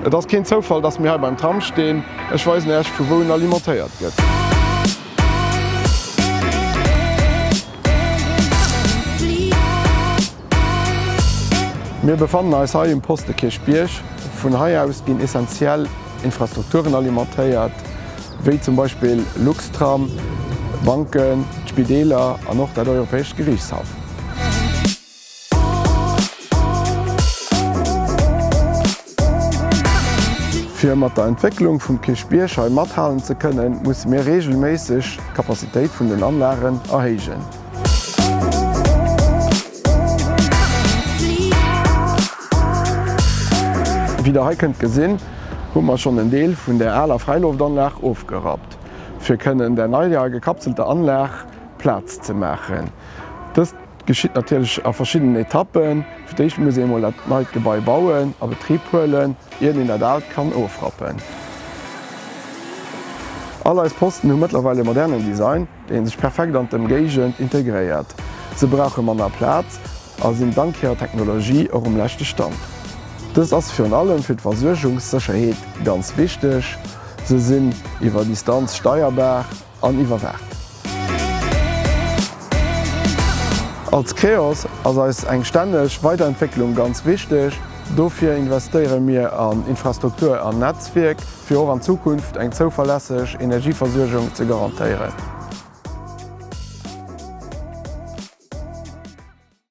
Et ass keen Zoufall dass mir hei beim Tram stehen, ech weisen Äech vu wou en alimentéiert gëtt. Mir befannen eis hei um Poste Kirchbierg, vun hei aus ginn essentiell Infrastrukturen alimentéiert, wéi zum Beispill Luxtram, Banken, d'Spideeler an och dat Europäescht Geriichtshaff. Fir mat der Entwécklung vum Kierchbierg hei mathalen ze kënnen, musse mir reegelméisseg d'Kapazitéit vun den Anlagen erhéijen. Wéi der hei kënnt gesinn, hu mer schonn en Deel vun der aler Fräiloftanlag ofgerappt, fir kënnen der neier gekapselter Anlag Plaz ze maachen. Dëst geschitt natierlech a verschiddenen Etappen. Fir d'éischt muss ee mol dat neit Gebai bauen a Betrib huelen, iert een dat aalt kann ofrappen. All eis Posten hu mëttlerweil e modernen Design. déi sech perfekt an d'Ëmgéigend integréiert, se brauche manner Plaz a sinn dank hirer Technologie och um leschte Stand. Dëst ass virun allem fir d'Versuergungssécherheet ganz wichteg, se sinn iwwer Distanz steierbar an iwwerwaacht. Als Creos ass eis eng stänneg Weiderentwécklung ganz wichteg, dofir investéiere mir an Infrastruktur an Netzwierk, fir och an Zukunft eng zouverlässeg Energieversuergung ze garantéieren.